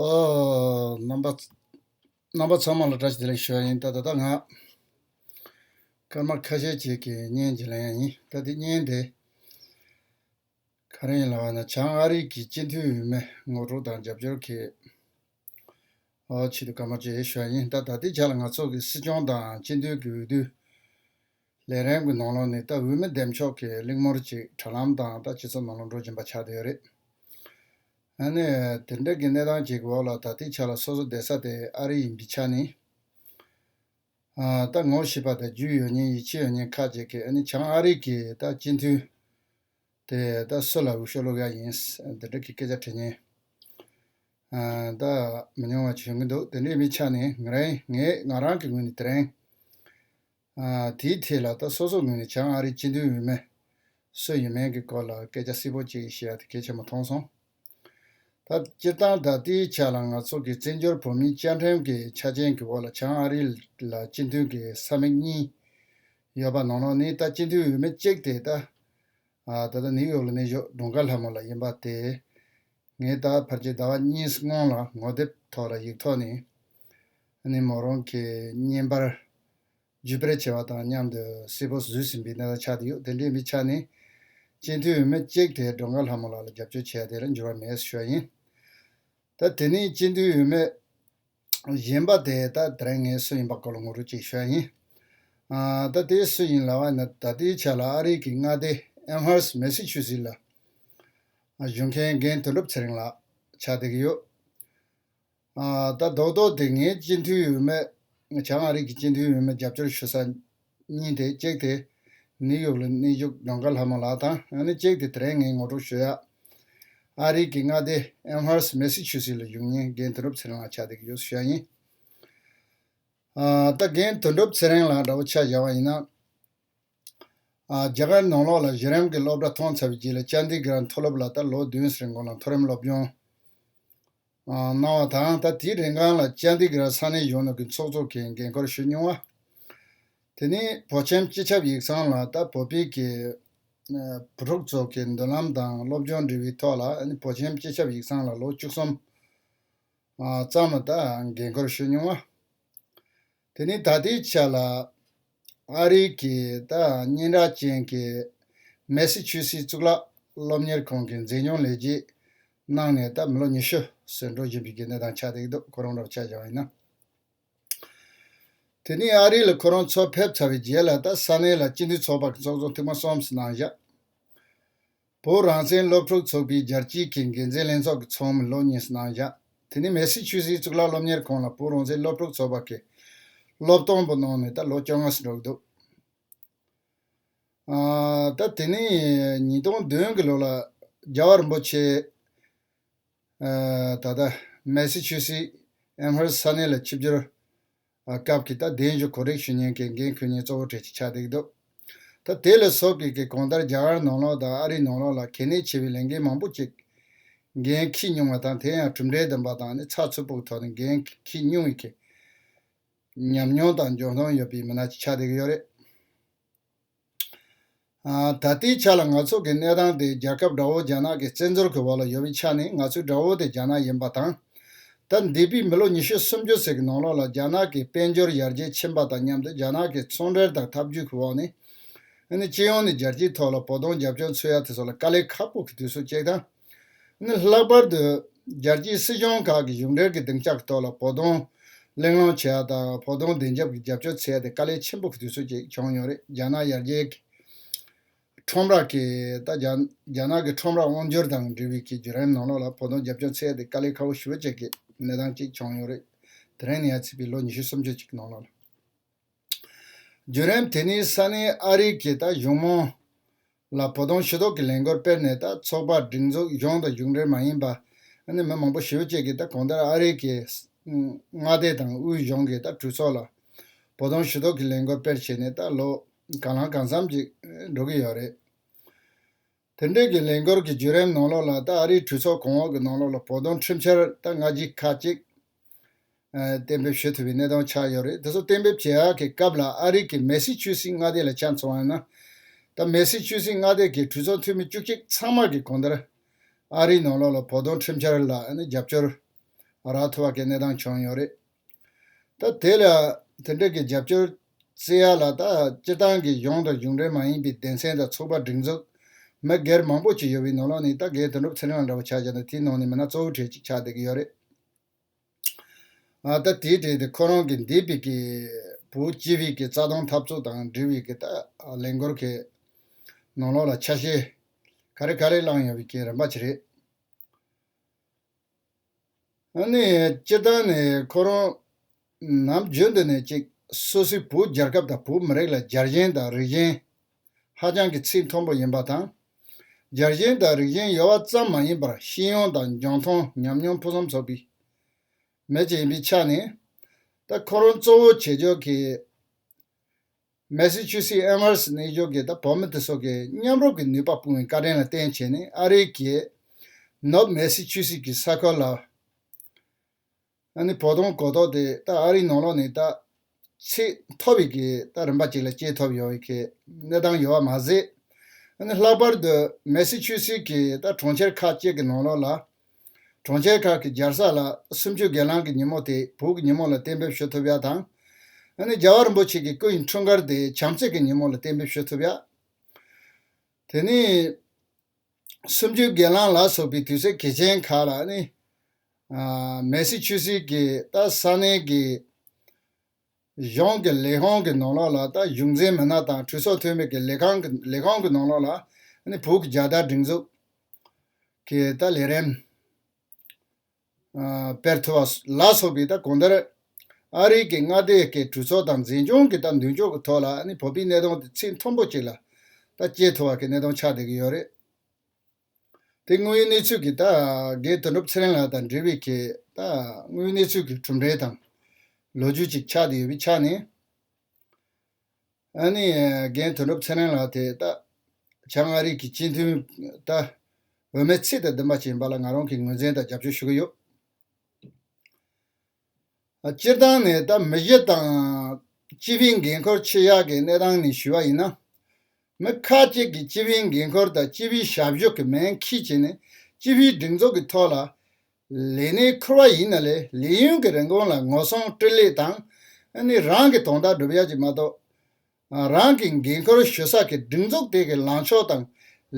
རྣམ་པ་རྣམ་པ་ཚང་མ་ལ་སྒྲ་ཇི་ལེགས་ཤོད་ཡིན་ད་ད་ད་ང་སྐར་མ་ཁ་ཤས་ཅིག་གི་བརྙན་ཇི་ལེགས་ཡིན་ད་དེ་བརྙན་དེ་ག་རེ་ཡིན་ལ་བ་ན་བྱང་ཨ་རིག་གི་སྤྱི་འཐུས་འོས་མི་ངོ་དྲུག་དང་རྒྱབ་སྐྱོར་གྱི་ཆེད་དུ་སྐར་མ་ཇི་ཞོད་ཡིན་ད་ད་ལྟའི་ཆ་ལ་ང་ཚོ་གི་སྲིད་སྐྱོང་དང་སྤྱི་འཐུས་ཀྱི་འོས་བསྡུ། ལས་རན་གྱི་ནོར་ལོངས་ནི་ད་འུ་མི་འདེམས་ཆོག་གི་གླིང་མོར་ཅིག་དྲ་ལམ་དང་ད་སྤྱི་ཚོགས་ནོར་ལོངས་འགྲོ་གྱིན་པ་ཆགས་དེ་རེད། ཨ་ནི། དེ་འདྲ་གི་གནས་སྟངས་ཅིག་གི་འོག་ལ་ད་ལྟའི་ཆ་ལ་སོ་སོ་བསྡད་ས་དེ་ཨ་རི་ཡིན་གྱི་ཆ་ནི། ད་ངོ་ཤེས་པ་དང་རྒྱུས་ཡོད་ཉེན་ཡིད་ཆེས་ཡོད་ཉེན་ཁག་ཅིག་གིས་ཨ་ནི་བྱང་ཨ་རི་གི་ད་སྤྱི་མཐུས་དེ་ད་སུ་ལ་འུ་ཤོ་སློབ་ཡག་ཡིན། དེ་འདྲ་གི་སྐད་ཆ་དྲི་ཉེན་ད་མི་ཉུང་བ་ཞིག་བྱུང་གི་འདུག་དེ་འདྲའི་མི་ཆ་ནི་ངས་ང་རང་གི་ངོས་ནས་དེ་རིང། དེའི་ཐད་ལ་ད་སོ་སོ་ངོས་ནས་བྱང་ཨ་རིའི་སྤྱི་མཐུན་འོས་མི། སུ་ཡིན་མིན་གྱི་སྐོར་ལ་སྐད་ཆ་སིལ་བོ་ཅིག་བཤད་ཡག་དེ་གལ་ཆེན་པོ་མཐོང་སོང། ད་སྤྱིར་བཏང་ད་ལྟའི་ཆ་ལ་ང་ཚོ་གི་བཙན་བྱོལ་བོད་མིའི་བཅའ་ཁྲིམས་ཀྱི་ཆ་རྐྱེན་གྱི་འོག་ལ་བྱང་ཨ་རི་ལ་སྤྱི་མཐུན་གྱི་ས་མིག་གཉིས་ཡོད་པ་ནོར་ནོར་ནི་ད་སྤྱི་མཐུན་འོས་མི་གཅིག་དེ་ད་ད་ནིའུ་ཡོག་ལ་གནས་བཞུགས་སྒྲུང་དཀར་ལྷ་མོ་ལ་ཡིན་པ་དེ་ངས་ད་བར་གྱི་ཟླ་བ་གཉིས་སྔོན་ལ་ངོ་དེབ་ཐོག་ར་ཡིག་ཐོག་ནས་མོ་རང་གི་བརྙན་པར་ཇུས་སྤེལ་བྱས་པ་དང་མཉམ་དུ་སིལ་བུར་བཟོས་ཟིན་པའི་གནས་སྟངས་ཆགས་འདི་ཡོད་དེ་འདྲའི་མི་ཆགས་ནས་སྤྱི་མཐུས་འོས་མི་གཅིག་དེ་སྒྲོ་མཁར་ལྷ་མོ་ལགས་ལ་རྒྱབ་སྐྱོར་བྱས་དེར་འགྱུར་བ་མེད་ཟེར་ཞོར་ཡིན། ད་དེ་ནས་སྤྱི་མཐུས་འོས་མི། གཞན་པ་དེ་ད་དེར་ངའི་སྲོལ་ཡིན་པ་སྐོར་ལ་ངོ་རུ་ཅིག་ཤོད་ཡིན། ད་དེའི་སྲོལ་ཡིན་ལ་བ་ན་ད་ལྟའི་ཆ་ལ་ཨ་རིག་གི་མངའ་སྡེ Amherst Massachusetts ལ་བཞུགས་མཁན་རྒན་དོན་གྲུབ་ཚེ་རིང་ལགས་ཕྱག་འདེགས་ཡོད། ད་རྡོག་རྡོག་དེ་ངའི་སྤྱི་འཐུས་འོས་མི་བྱང་ཨ་རིག་གི་སྤྱི་འཐུས་འོས་མི་རྒྱབ་སྐྱོར་ཞུ་ས་གཉིས་དེ་གཅིག་དེ་ནིའུ་ཡོག་ལ་གནས་བཞུགས་རྒྱང་གར་ལྷ་མོ་ལགས་དང་ཡང་ན་གཅིག་དེ་དེ་རིང་ངས་ངོ་སྤྲོད་ཞུ་ཡག་ཨ་རིག་གི་མངའ་སྡེ་ཨེམ་ཧར་སི་མེ་སི་ཆུ་སི་ལ་བཞུགས་ཉིན་རྒན་དོན་གྲུབ་ཚེ་རིང་ལགས་ཕྱག་འདེབས་ཀྱི་ཡོད་སུ་ཤ་ཡིན། ད་རྒན་དོན་གྲུབ་ཚེ་རིང་ལགས་འདྲ་བོ་ཆ་བཞག་པ་ཡིན་ན། རྒྱ་གར་ནང་ལོགས་ལ་གཞི་རིམ་གྱི་སློབ་གྲྭ་ཐོན་ཚར་བའི་རྗེས་ལ་ཅཱནྡི་གིར་མཐོ་སློབ་ལ་ད་ལོ་བདུན་ཟེར་མགོ་ལ་མཐོ་རིམ་སློབ་སྦྱོང། གནང་བ་དང་ད་དེའི་རིང་ཁང་ལ་བཅར་འདྲི་གི་ར་ས་གནས་གཞུང་ནང་གི་ཚོགས་གཙོ་གིས་འགན་ཁུར་ཞུས་མྱོང་བ། དེ་ནི་བོད་ཁྱིམ་སྤྱི་ཁྱབ་ཡིག་ཚང་ལ་ད་བོད་པིག་གི་བུ་ཕྲུག་ཚོ་གི་མདུན་ལམ་དང་སློབ་སྦྱོང་འབྲེལ་བའི་ཐོག་ལ་བོད་ཁྱིམ་སྤྱི་ཁྱབ་ཡིག་ཚང་ལ་ལོ་བཅུ་གསུམ་ཙམ་ལ་ད་འགན་ཁུར་ཞུས་མྱོང་བ། དེ་ནི་ད་ལྟའི་ཆ་ལ་ཨ་རི་གི་སྙན་གྲགས་ཅན་གྱི་མེ་སི་ཆུ་སི་གཙུག་ལག་སློབ་གཉེར་ཁང་གི་མཛེས་ཉོག་ལས་རྗེས་གནང་ནས་ད་མི་ལོ་ཉི་ཤུ་སོན་འགྲོ་བཞིན་པའི་དགེ་འདུན་དང་ཆ་སྟེགས་སྡོད་གོ་རོང་རབ་ཆ་བཞག་ཡིན་ན། དེ་ནི་ཨ་རི་ལ་ཁོ་རང་འཚོ་ཕེབས་ཚར་བའི་རྗེས་ལ་ད་ས་གནས་ལ་སྤྱི་མཐུན་ཚོགས་པ་གི་ཚོགས་གཙོ་འཐུས་མ་གསུམ་བཞི་གནང་བཞག། བོད་རང་བཙན་སློབ་ཕྲུག་ཚོགས་པའི་རྒྱལ་སྤྱིའི་གི་འགན་འཛིན་ལྷན་ཚོགས་ཀྱི་ཚོགས་མི་བློ་གཉིས་སུ་གནང་བཞག་དེ་ནས་མེ་སི་ཆུ་སིའི་གཙུག་ལག་སློབ་གཉེར་ཁང་ལ་བོད་རང་བཙན་སློབ་ཕྲུག་ཚོགས་པ་གི་སློབ་སྟོན་པོ་གནང་ནས་ད་ལོ་བཅོ་ལྔ་སུ་འགྲོ་གི་འདུག་ད་དེ་ནས་ཉིས་སྟོང་བདུན་གི་ལོ་ལ་རྒྱལ་བ་རིན་པོ་ཆེ་ད་ལྟ་མེ་སི་ཆུ་སི་ཨེམ་ཧར་ས་གནས་ལ་ཆིབས་སྒྱུར་སྐབས་ཀྱི་ད་གདན་བཞུགས་གོ་རེག་ཞུ་སྙན་གྱི་འགན་ཁུར་ཉིན་གཙོ་བོ་གྲས་ཀྱི་ཆ་འདེགས་འདུག་ད་དེ་ལ་སོགས་ཀྱི་གི་གོང་ལྟར་རྒྱ་གར་ནང་ལོག་དང་ཨ་རི་ནང་ལོག་ལ་གལ་གནད་ཆེ་བའི་ལས་འགན་མང་པོ་གཅིག་འགན་འཁྱི་ཉུང་བ་དང་དེ་ཡང་གྲུབ་འབྲས་ལྡན་པ་དང་ནི་ཚགས་ཚུད་པོ་གི་ཐོག་ནས་འགན་འཁྱི་ཉུང་བའི་གི་ཉམས་མྱོང་དང་འཇོན་ཐང་ཡོད་པའི་མི་སྣ་གྱི་ཆ་འདེགས་ཡོད་རེད། ད་ལྟའི་ཆ་ལ་ང་ཚོ་གི་གནས་སྟངས་དེ་རྒྱལ་ཁབ་དགྲ་བོ་རྒྱ་ནག་གི་བཙན་འཛུལ་གྱི་འོག་ལ་ཡོད་པའི་ཆ་ནས་ང་ཚོའི་དགྲ་བོ་དེ་རྒྱ་ནག་ཡིན་པ་དང། ད་འདས་པའི་མི་ལོ་ཉི་ཤུ་སུམ་ཅུ་ཟེར་གྱི་ནང་ལོགས་ལ་རྒྱ་ནག་གི་དཔལ་འབྱོར་ཡར་རྒྱས་ཕྱིན་པ་དང་མཉམ་དུ་རྒྱ་ནག་གི་ཚོང་འབྲེལ་དང་འཐབ་ཇུས་ཀྱི་འོག་ནས། སྤྱི་ཡོངས་ནས་རྒྱལ་སྤྱིའི་ཐོག་ལ་བོགས་གཏོང་རྒྱབ་སྐྱོར་འཚོལ་ཡ་དེ་ཚོ་ལ་དཀའ་ལས་ཁག་པོ་གི་དུས་སུ་སྐྱེལ་སྟངས། ནི་ལྷག་པར་དུ་རྒྱལ་སྤྱིའི་སྲིད་གཞུང་ཁག་གིས་གཞུང་འབྲེལ་གྱི་སྡིངས་ཆ་གི་ཐོག་ལ་བོགས་གཏོང་གླེང་སློང་བྱས་པ་དང་བོགས་གཏོང་བདེ་འཇགས་ཀྱི་རྒྱབ་སྐྱོར་ཚད་དེ་དཀའ་ལས་ཆེན་པོ་གྱི་དུས་ཚོད་ཅིག་བྱུང་མྱོང་རེད་རྒྱ་ནག་ཡར་རྒྱས་ཀྱི་ཁྲོམ་ར་གིས་ད་རྒྱ་ནག་གི་ཁྲོམ་ར་དབང་བསྒྱུར་དང་འབྲེལ་བའི་གྱི་བརྒྱུད་རིམ་ནང་ལོགས་ལ་བོགས་གཏོང་རྒྱབ་སྐྱོར་ཚད་དེ་དཀའ་ལས་ཁ་བོ་ཞུ་བ་བཅས་ཀྱི་གནས་སྟངས་ཅིག་བྱུང་མྱོང་རེད་དེ་རིང་ནས་ཡར་ཚིག་པའི་ལོ་ཉི་ཤུ་སུམ་ཅུ་ཅིག་གི་ནང་ལོགས་ལ། བརྒྱུད་རིམ་དེ་ནི་ས་གནས་ཨ་རིག་གི་ད་གཞུང་མོང་ལ་བོ་དོང་ཤེས་རྟོགས་ཀྱི་ལས་འགོར་སྤེལ་ནས་ད་ཚོགས་པ་སྒྲིག་འཛུགས་གཞུང་དང་གཞུང་འབྲེལ་མ་ཡིན་པ་ནས་མི་མང་པོ་ཞི་བ་བཅས་ཀྱིས་ད་གོང་ལྟར་ཨ་རིག་གི་མངའ་སྡེ་དང་དབུས་གཞུང་གི་ད་གྲོས་ཚོགས་ལ་བོ་དོང་ཤེས་རྟོགས་ཀྱི་ལས་འགོར་སྤེལ་བྱས་ནས་ད་ལོ་གང་ལང་གང་བསམ་ཅིག་འགྲོ་གི་ཡོད་རེད། དེར་འབྲེལ་གྱི་ལས་འགུལ་གྱི་བརྒྱུད་རིམ་ནང་ལོགས་ལ་ད་ཨ་རིའི་གྲོས་ཚོགས་གོང་འོག་གི་ནང་ལོགས་ལ་བོད་དོན་ཁྲིམས་འཆར་ད་སྔ་གཞི་ཁ་ཅིག་གཏན་འབེབས་བྱེད་ཐུབ་པའི་གནས་སྟངས་ཆགས་ཡོད་རེད་དེ་ཚོ་གཏན་འབེབས་བྱེད་ཡག་གི་སྐབས་ལ་ཨ་རིག་གི་མེ་སི་ཅུ་སི་མངའ་སྡེ་ལ་ཆ་མཚོན་ཡོད་ན། ད་མེ་སི་ཅུ་སི་མངའ་སྡེ་གི་གྲོས་ཚོགས་འཐུས་མི་བཅུ་གཅིག་ཚང་མ་གི་གོང་ལྟར་ཨ་རིའི་ནང་ལོགས་ལ་བོད་དོན་ཁྲིམས་འཆར་ལ་རྒྱབ་སྐྱོར་རག་ཐུབ་པ་གི་གནས་སྟངས་བྱུང་ཡོད་རེད། ད་དེ་ལ་དེ་འདྲ་གི་རྒྱབ་སྐྱོར་བརྩི་ཡག་ལ་ད་སྤྱིར་བཏང་གི་གཞུང་དང་གཞུང་འབྲེལ་མ་ཡིན་པའི་སྡེ་ཚན་དང་ཚོགས་པ་སྒྲིག་འཛུགས་མི་སྒེར་མང་པོ་ཅིག་ཡོད་པའི་ནོར་ལོག་ནི་ད་གེ་དོན་གྲུབ་ཚེ་རིང་ལ་འདྲ་བོ་ཆགས་ཀྱང་ད་དེའི་ནང་ནས་མི་སྣ་གཙོ་བོ་གྲས་ཅིག་ཆགས་བསྡད་ཀྱི་ཡོད་རེད། ད་དེའི་གྲས་དེ་ཁོ་རང་གི་འདས་པའི་གི་བུ་སྐྱིད་བྷིག་གི་རྩ་དོན་འཐབ་རྩོད་དང་འབྲེལ་བའི་གི་ད་ལས་འགོར་གི་ནོར་ལོག་ལ་ཆ་ཤས་ག་རེ་ག་རེ་བླངས་ཡོང་བའི་གི་རིམ་པ་ཅིག་རེད། སྤྱིར་བཏང་ནས་ཁོ་རང་ནམ་རྒྱུན་དུ་ནས་ཅིག་སུ་སི་བོད་རྒྱལ་ཁབ་དང་བོད་མི་རིགས་ལ་རྒྱལ་ཞེན་དང་རིགས་ཞེན་ཧ་ཅང་གི་ཚིག་མཐོན་པོ་ཡིན་པ་དང། རྒྱལ་ཞེན་དང་རིགས་ཞེན་ཡོད་བ་ཙམ་མ་ཡིན་པར་ཤེས་ཡོན་དང་འཇོན་ཐང་ཉམས་མྱོང་ཕུན་སུམ་ཚོགས་པའི་མི་ཅིག་ཡིན་པའི་ཆ་ནས། ད་ཁོ་རང་གཙོ་བོ་བྱེད་ཕྱོགས་ཀྱི་མེ་སི་ཆུ་སི་ཨེམ་ཧར་སི་གནས་སྦྱོར་གྱིས་ད་བོད་མི་དེ་ཚོ་གིས་མཉམ་རུབ་ཀྱི་ནུས་པ་སྤུངས་བའི་བཀའ་དྲིན་ལ་བརྟེན་བྱས་ནས་ཨ་རིའི་གྱི་ནོབ་མེ་སི་ཆུ་སི་གྱི་ས་ཁུལ་ལ་ནི་བོ་དོང་གོ་ཐོག་དེ་ད་ཨ་རིའི་ནང་ལོགས་ནས་ད་ཚིག་མཐོ་བའི་གི་ད་རིམ་པ་ཅིག་ལ་སྐྱེས་ཐོབ་ཡོང་བའི་གི་གནས་སྟངས་ཡོད་བ་མ་ཟད་ནི་ལྷག་པར་དུ་མེ་སི་ཆུ་སི་གྱི་ད་གྲོང་ཁྱེར་ཁག་ཅིག་གི་ནང་ལོགས་ལ་གྲོང་ཁྱེར་ཁག་གི་སྦྱར་ས་ལ་སུམ་ཅུ་སྒེར་ལངས་ཀྱི་ཉིན་མོ་དེ་བོད་ཀྱི་ཉིན་མོ་ལ་གཏན་འབེབས་ཞུ་ཐུབ་ཡ་དང། རྒྱལ་བ་རིན་པོ་ཆེ་གི་སྐུ་ཡི་འཁྲུངས་སྐར་དེ་བྱམས་བརྩེ་གི་ཉིན་མོ་ལ་གཏན་འབེབས་ཞུ་ཐུབ་ཡ། དེ་ནི། སུམ་ཅུའི་སྒེར་ལངས་ལ་སོགས་པའི་དུས་ཚོད་གལ་ཆེན་ཁག་ལ་ནི། མེ་སི་ཆུ་སི་ཀི་ཏ་ས་གནས་ཀྱི། གཞུང་གི་ལས་ཁང་གི་ནང་ལོགས་ལ་དང་གཞུང་འཛིན་མི་སྣ་དང་གྲོས་ཚོགས་འཐུས་མི་གི་ལས་ཁང་ལས་ཁང་གི་ནང་ལོགས་ལ་བོད་ཀྱི་རྒྱལ་དར་སྒྲེང་འཛུགས་ཀྱི་དང་ལས་རིམ་སྤེལ་ཐུབ་པ་ལ་སོགས་པའི་དང་གོང་ལྟར་ཨ་རིག་གི་མངའ་སྡེ་གི་གྲོས་ཚོགས་དང་འཛིན་སྐྱོང་གི་དང་མདུན་ཅོག་གི་ཐོག་ལ་བོད་པའི་གནས་སྟངས་དེ་ཚིག་མཐོན་པོ་གཅིག་ལ་དང་སྐྱེལ་ཐུབ་པ་གི་གནས་སྟངས་ཆགས་བསྡད་ཀྱི་ཡོད་རེད། དེ་དངོས་ཡོད་གནས་ཚུལ་གྱི་ད་གེ་དོན་གྲུབ་ཚེ་རིང་ལགས་དང་འབྲེལ་བའི་གེ་ད་དངོས་ཡོད་གནས་ཚུལ་གྱི་གྲུབ་འབྲས་དང། ལོ་རྒྱུས་ཅིག་ཆགས་བསྡད་ཡོད་པའི་ཆ་ནས། ཨ་ནི་གེ་དོན་གྲུབ་ཚེ་རིང་ལགས་དེ་ད་བྱང་མངའ་རིས་ཀྱི་སྤྱི་མཐུན་ད་འོས་མའི་ཚིག་དང་བདུན་པ་ཅིག་ཡིན་པ་ལ་ང་རང་གིས་ངོས་འཛིན་དང་རྒྱབ་སྐྱོར་ཞུ་གི་ཡོད། སྤྱིར་བཏང་ནས་ད་མི་བཞི་དང། སྤྱི་བའི་འགན་ཁུར་ཆེ་བཞག་གི་གནས་སྟངས་ནས་ཞུས་པ་ཡིན་ན། མི་ཁག་ཅིག་གིས་སྤྱི་བའི་འགན་ཁུར་དང་སྤྱི་བའི་ཞབས་ཞུ་གི་མན་ཁིས་བྱས་ནས་སྤྱི་བའི་སྒྲིག་འཛུགས་ཀྱི་ཐོག་ལ་ལས་གནས་ཁུར་བ་ཡིན་ན་ལས་ལས་ཡུན་གྱི་རིན་གོང་ལ་ངོ་སྲུང་སྤྲོད་ལེགས་དང། རང་གི་དོན་དག་སྒྲུབ་ཡག་ཅིག་མ་གཏོགས། རང་གི་འགན་ཁུར་ཞུ་ས་ཀྱི་སྒྲིག་འཛུགས་དེ་གའི་ལངས་ཕྱོགས་དང་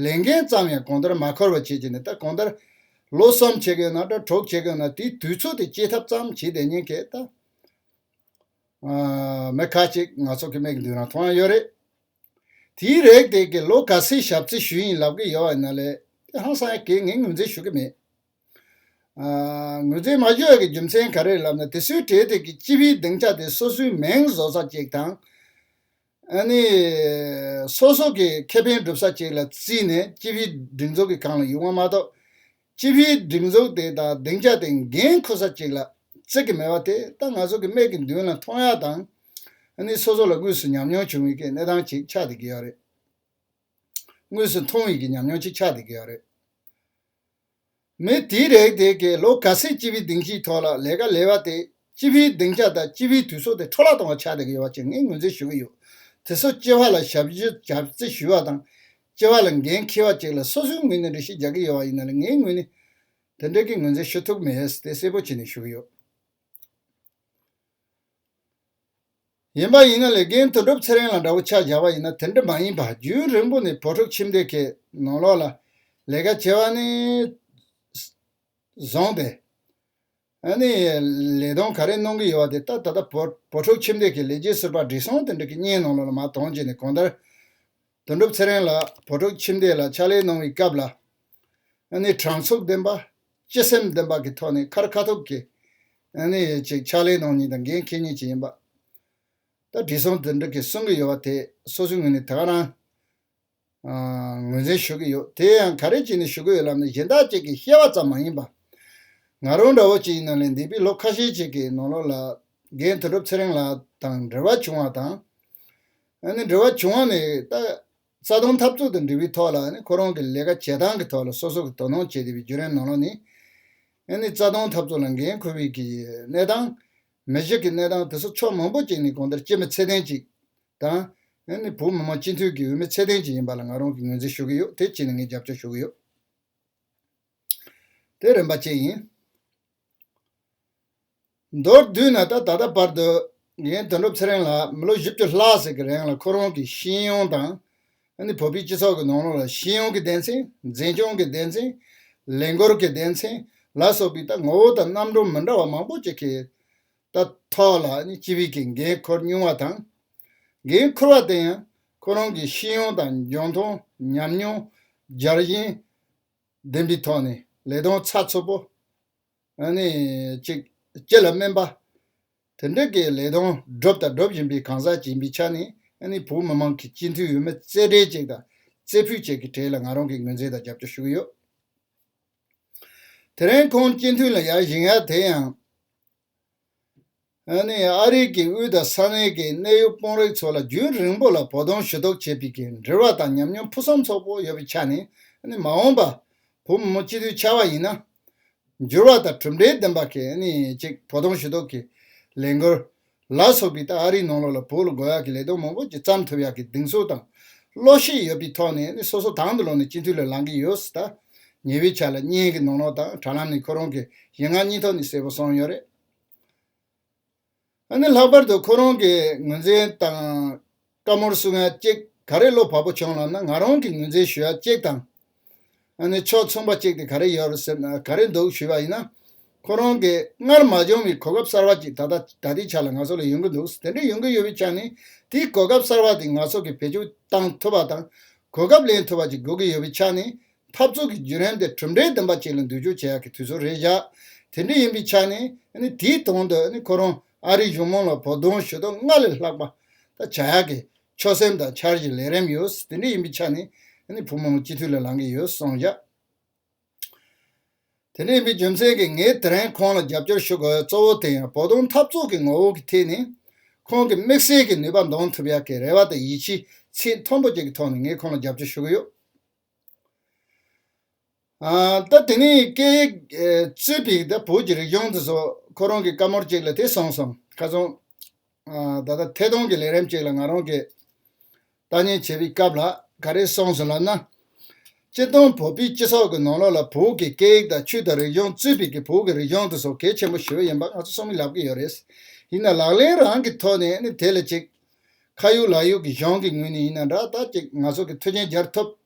ལས་འགན་ཙམ་ཡང་གོང་ལྟར་མ་འཁོར་བ་བྱེད་ཀྱི་ནས་ད་གོང་ལྟར་ལོ་གསུམ་བྱེད་དགོས་ན་དྲ་གྲོགས་བྱེད་དགོས་ན་དེའི་དུས་ཚོད་དེ་སྐྱེལ་ཐབས་ཙམ་བྱེད་བསྡད་ཉན་གལ་ད་མི་ཁ་ཅིག་ང་ཚོ་གི་མིག་མདུན་རང་མཐོང་ཡང་ཡོད་རེད་དེའི་རེག་དེ་གའི་ལོ་ག་ཚོད་ཞབས་རྩི་ཞུ་ཡིན་ལབ་གི་ཡོད་བ་ཡིན་ན་ལས་དེ་ཧང་སང་ཡང་གེ་ངས་ངོས་འཛིན་ཞུ་གི་མེད། ངོས་ཚེ་མ་ཞོལ་གྱི་རྒྱུ་མཚན་ག་རེ་ལབ་ན་དེ་སུའི་གྲས་དེ་གི་སྤྱི་བའི་སྡིངས་ཆ་དེ་སོ་སོའི་མིང་བཟོ་ས་ཅིག་དང། ཨ་ནི། སོ་སོ་གི་ཁེ་ཕན་སྒྲུབ་ས་ཅིག་ལ་བརྩིས་ནས་སྤྱི་བའི་སྒྲིག་འཛུགས་ཀྱི་གང་ལ་ཡུག་བ་མ་གཏོགས། སྤྱི་བའི་སྒྲིག་འཛུགས་དེ་དང་སྡིངས་ཆ་དེ་འགན་འཁུར་ས་ཅིག་ལ་བརྩི་གི་མེད་པ་དེ་ད་ང་ཚོ་གི་སྨད་ཀྱི་མདུན་ལ་མཐོང་ཡག་དང། ཨ་ནི་སོ་སོ་ལ་དངོས་སུ་ཉམས་མྱོང་བྱུང་ཡོད་ཀྱི་གནས་སྟངས་ཅིག་ཆགས་བསྡད་ཀྱི་ཡོད་རེད། དངོས་སུ་མཐོང་ཡོད་ཀྱི་ཉམས་མྱོང་ཅིག་ཆགས་བསྡད་ཀྱི་ཡོད་རེད། མི་དེས་རེག་དེ་གའི་ལོ་ག་ཚོད་སྤྱི་བའི་སྡིངས་ཆའི་ཐོག་ལ་ལས་ཀ་ལས་པ་དེས་སྤྱི་བའི་སྡིངས་ཆ་དང་སྤྱི་བའི་དུས་ཚོད་དེ་འཕྲོ་བརླག་གཏོང་བར་ཆགས་བསྡད་ཀྱི་ཡོད་པ་བཅས་ངས་ངོས་འཛིན་ཞུ་གི་ཡོད། དེ་སོགས་སྤྱི་བ་ལ་ཞབས་ཞུ་བྱ་རྩིས་ཞུ་བ་དང། སྤྱི་བ་ལ་འགན་འཁྱེར་བ་བཅས་ལ་སོ་སོའི་ངོས་ནས་འདྲི་ཤེས་རྒྱག་གི་ཡོད་པ་ཡིན་ན་ལ་ངའི་ངོས་ནས་དེ་འབྲེལ་གྱི་ངོས་འཛིན་ཞུ་ཐུབ་མེད་དེ་གསལ་པོ་བྱས་ནས་ཞུ་གི་ཡོད། ཡིན་པ་ཡིན་ན་ལས་རྒན་དོན་གྲུབ་ཚེ་རིང་ལ་འདྲ་བོ་ཆ་བཞག་པ་ཡིན་ན་དེ་འདྲ་མ་ཡིན་པར་རྒྱུན་རིང་པོ་ནས་བོད་ཕྲུག་ཁྱིམ་སྡེ་ཁའི་ནང་ལོགས་ལ་ལས་ཀ་བྱེད་པ་ནི། བཟང་སྟེ། ནི། ལས་དོན་ག་རེ་གནང་གི་ཡོད་པ་དེ་ད་ད་ལྟ་བོད་ཕྲུག་ཁྱིམ་སྡེ་ཁའི་ལས་བྱེད་ཟུར་པ་འབྲི་སྲོང་དེ་འདྲ་གི་གཉེན་ནང་ལོགས་ལ་མ་དྭངས་རྗེས་ནས་གང་ལྟར་དོན་གྲུབ་ཚེ་རིང་ལགས་བོད་ཕྲུག་ཁྱིམ་སྡེ་ལ་ཕྱག་ལས་གནང་བའི་སྐབས་ལ་ནི་དྲང་ཚུགས་ལྡན་པ་སྤྱི་སེམས་ལྡན་པ་གི་ཐོག་ནས་ཁར་ཁ་ཐུག་གི་ནི་ཅིག་ཕྱག་ལས་གནང་ཉིན་དང་འགན་འཁེལ་ཉིན་གཅིག་ཡིན་པ་ད་བགྲེས་སོང་དོན་གྲུབ་ཀྱི་གསུང་གི་ཡོད་པ་དེ་སོ་སོའི་ངོས་ནས་དེ་ག་རང་ངོས་འཛིན་ཞུ་གི་ཡོད་དེ་ཡང་ག་རེ་ཅིག་ནི་ཞུ་གི་ཡོད་ལབ་ན་གཞན་དག་ཅིག་གི་ཤེས་བ་ཙམ་མ་ཡིན་པ་ང་རང་འདྲ་བོ་ཅིག་ཡིན་ན་ལས་འདས་པའི་ལོ་ཁ་ཤས་ཅིག་གི་ནང་ལོགས་ལ་རྒན་དོན་གྲུབ་ཚེ་རིང་ལགས་དང་འབྲེལ་བ་བྱུང་བ་དང། འབྲེལ་བ་བྱུང་བ་མེད་པའི་རྩ་དོན་འཐབ་རྩོད་དང་འབྲེལ་བའི་ཐོག་ལ་ཁོ་རང་གི་ལས་ཀ་བྱེད་སྟངས་ཀྱི་ཐོག་ལ་སོ་སོ་གིས་དོ་སྣང་བྱེད་བདེ་བའི་བརྒྱུད་རིམ་ནང་ལོགས་ནས། རྩ་དོན་འཐབ་རྩོད་ལ་འགན་འཁུར་བའི་གནས་སྟངས། མི་གཞི་གི་གནས་སྟངས་དེ་ཚོ་ཕྱོགས་མང་པོ་གཅིག་ནས་གང་ལྟར་སྤྱི་མི་ཚད་ལྡན་ཅིག་དང། བོད་མི་མང་སྤྱི་འཐུས་ཀྱི་འོས་མི་ཚད་ལྡན་ཅིག་ཡིན་པ་ལ་ང་རང་གིས་ངོས་འཛིན་ཞུ་གི་ཡོད་དེ་བཅས་ནས་ངས་རྒྱབ་སྐྱོར་ཞུ་གི་ཡོད། དེ་རིམ་པ་བཅས་ཡིན། མདོར་བསྡུས་ན་ད་ལྟ་བར་དུ་ངས་དོན་གྲུབ་ཚེ་རིང་ལགས་མི་ལོ་བཞི་བཅུ་ལྷག་ཟིག་གི་རིང་ལ་ཁོ་རང་གི་ཤེས་ཡོན་དང། བོད་པའི་སྤྱི་ཚོགས་ཀྱི་ནང་ལོགས་ལ་ཤེས་ཡོན་གྱི་སྡེ་ཚན། འཛིན་སྐྱོང་གི་སྡེ་ཚན། ལས་འགུལ་གྱི་སྡེ་ཚན་ལ་སོགས་པའི་ད་ངོ་བོ་དང་རྣམ་འགྱུར་མི་འདྲ་བ་མང་པོ་ཅིག་གི་ད་ཐོག་ལ་སྤྱི་བོད་ཀྱི་འགན་ཁུར་བསྙུང་བ་དང། འགན་ཁུར་བ་དེ་ཡང་ཁོ་རང་གི་ཤེས་ཡོན་དང་འཇོན་ཐང་ཉམས་མྱོང་སྦྱར་བཞིན་ལྡན་པའི་ཐོག་ནས་ལས་དོན་ཚགས་ཚུད་པོ་གཅིག་སྤྱི་ལ་སྨིན་པ། དེ་འབྲེལ་གྱི་ལས་དོན་སྒྲུབ་དང་སྒྲུབ་བཞིན་པའི་གང་ཟག་ཡིན་པའི་ཆ་ནས་བོད་མི་མང་གི་སྤྱི་འཐུས་འོས་མི་རྩེ་གྲས་བཅས་དང་རྩེ་ཕུད་བཅས་ཀྱི་གྲས་ལ་ང་རང་གིས་ངོས་འཛིན་དང་རྒྱབ་སྐྱོར་ཞུ་གི་ཡོད། དེ་རིང་ཁོང་སྤྱི་འཐུས་ལ་ཡར་བཞེངས་ཡ་དེ་ཡང། ཨ་རིག་གི་དབུས་དང་ས་གནས་ཀྱི་གནད་ཡོད་དཔོན་རིགས་ཚོ་ལ་རྒྱུན་རིང་པོ་ལ་བོ་གདོང་ཞུ་གཏུག་བྱེད་པའི་འབྲེལ་བ་དང་ཉམས་མྱོང་ཕུན་སུམ་ཚོགས་པོ་ཡོད་པའི་ཆ་ནས་མ་འོངས་པ་བུ་མོ་སྤྱི་འཐུས་ཆགས་པ་ཡིན་ན། འགྱུར་བ་དང་གྲུབ་འབྲས་ལྡན་པ་གཅིག་བོ་གདོང་ཞུ་གཏུག་གི་ལས་འགུལ་ལ་སོགས་པའི་སྟེང་ཨ་རིའི་ནང་ལོགས་ལ་བུ་ལ་འགོ་ཡག་གི་ལས་དོན་མང་པོ་ཅིག་བརྩམས་ཐུབ་ཡག་གི་གདེང་ཚོད་དང་བློ་ཤེས་ཡོད་པའི་ཐོག་ནས་སོ་སོ་དང་དུ་ལོག་ནས་སྤྱི་འཐུས་ལ་ལང་གི་ཡོད་སྲིད་ད། ཉེ་བའི་ཆ་ལ་བརྙན་གྱི་ནོར་ལོག་དང་དྲ་ལམ་ནས་ཁོ་རང་གི་ཞེ་ངག་གཉིས་ཐོག་ནས་གསལ་པོ་སོང་ཡོད་རེད། ཨ་ནི་ལྷག་པར་དུ་ཁོ་རང་གིས་ངོས་འཛིན་དང་བཀའ་མོལ་བསུ་ང་གཅིག་ག་རེ་བློ་བབ་པོ་བྱུང་ལབ་ན་ང་རང་གིས་ངོས་འཛིན་ཞུ་ཡ་གཅིག་དང། ཨ་ནི་ཕྱོགས་མཚུངས་པ་གཅིག་དེ་ག་རེ་ཡོད་རེད་ཟེར་ན་ག་རེ་འདུག་ཞུས་པ་ཡིན་ན་ཁོ་རང་གིས་སྔར་མ་བྱུང་བའི་གོ་སྐབས་གསར་བ་ཅིག་ད་ལྟ་ད་ལྟའི་ཆ་ལ་ང་ཚོ་ལ་ཡོང་གི་འདུག་དེ་འདྲའི་ཡོང་གི་ཡོད་པའི་ཆ་ནས་དེའི་གོ་སྐབས་གསར་བ་དེ་ང་ཚོ་གིས་བེད་སྤྱོད་གཏང་ཐུབ་པ་དང་གོ་སྐབས་ལེན་ཐུབ་པ་ཅིག་དགོས་ཀྱི་ཡོད་པའི་ཆ་ནས་འཐབ་རྩོད་ཀྱི་བརྒྱུད་རིམ་དེ་གྲུབ་འབྲས་ལྡན་པ་ཅིག་ལ་འདུས་སྦྱོར་བྱེད་ཡག་གི་དུས་ཚོད་རེད་བཞག་དེ་འདྲ་ཡིན་པའི་ཆ་ནས་དེའི་དོན་དུ་ཁོ་རང་ཨ་རིའི་གཞུང་མང་ལ་བོགས་འདོན་ཞུ་དོན་སྔར་ལས་ལྷག་པ་ད་བྱ་ཡག་གི་ཆོད་སེམས་དང་འཆར་གཞི་ལས་རིམ་ཡོད་དེ་འདྲ་ཡིན་པའི་ཆ་ནས་བུ་མོ་མོ་སྤྱི་འཐུས་ལ་ལང་གི་ཡོད་སོང་བཞག། དེ་ལས་རྒྱུ་མཚན་གྱིས་ངས་དེ་རིང་ཁོང་ལ་རྒྱབ་སྐྱོར་ཞུ་དགོས་གཙོ་བོ་དེ་ཡང་བོད་དོན་འཐབ་རྩོད་ཀྱི་ངོ་བོ་གི་ཐད་ནས་ཁོང་གི་དམིགས་བསལ་གྱི་ནུས་པ་འདོན་ཐུབ་ཡ་གི་རེ་བ་དང་ཡིད་ཆེས་ཚད་མཐོན་པོ་བཅས་ཀྱི་ཐོག་ནས་ངས་ཁོང་ལ་རྒྱབ་སྐྱོར་ཞུ་གི་ཡོད། ད་དེ་ནས་སྐད་ཡིག་རྩོད་པའི་བོད་ཀྱི་རིག་གཞུང་དེ་ཚོ་ཁོ་རང་གི་བཀའ་མོར་གཅིག་ལ་དེ་གསུངས་སོང་ཁ་སང། ད་ལྟ་ཐད་གཏོང་གི་ལས་རིམ་ཅིག་ལ་ང་རང་གིས་ལྟ་ཉན་བྱེད་པའི་སྐབས་ལ་ག་རེ་སོང་ཟེར་ལབ་ན། སྤྱིར་བཏང་བོད་པའི་སྤྱི་ཚོགས་ཀྱི་ནང་ལོགས་ལ་བོད་ཀྱི་སྐད་ཡིག་དང་ཆོས་དང་རིག་གཞུང་རྩོད་པའི་གི་བོད་ཀྱི་རིག་གཞུང་དེ་ཚོ་གལ་ཆེན་པོ་ཞིག་ཡིན་པ་ང་ཚོ་སོང་མིན་ལབ་ཀྱི་ཡོད་རེད། ཡིན་ན་ལག་ལེན་རང་གི་ཐོག་ནས་ནི་དེ་ལ་ཅིག། ཁ་ཡུག་ལག་ཡུག་གི་གཞུང་གི་ངོས་ནས་ཡིན་ན་འདྲ་ད་ཅིག་ང་ཚོ་གི་མཐུ་ཆེན་སྦྱར་ཐུབ།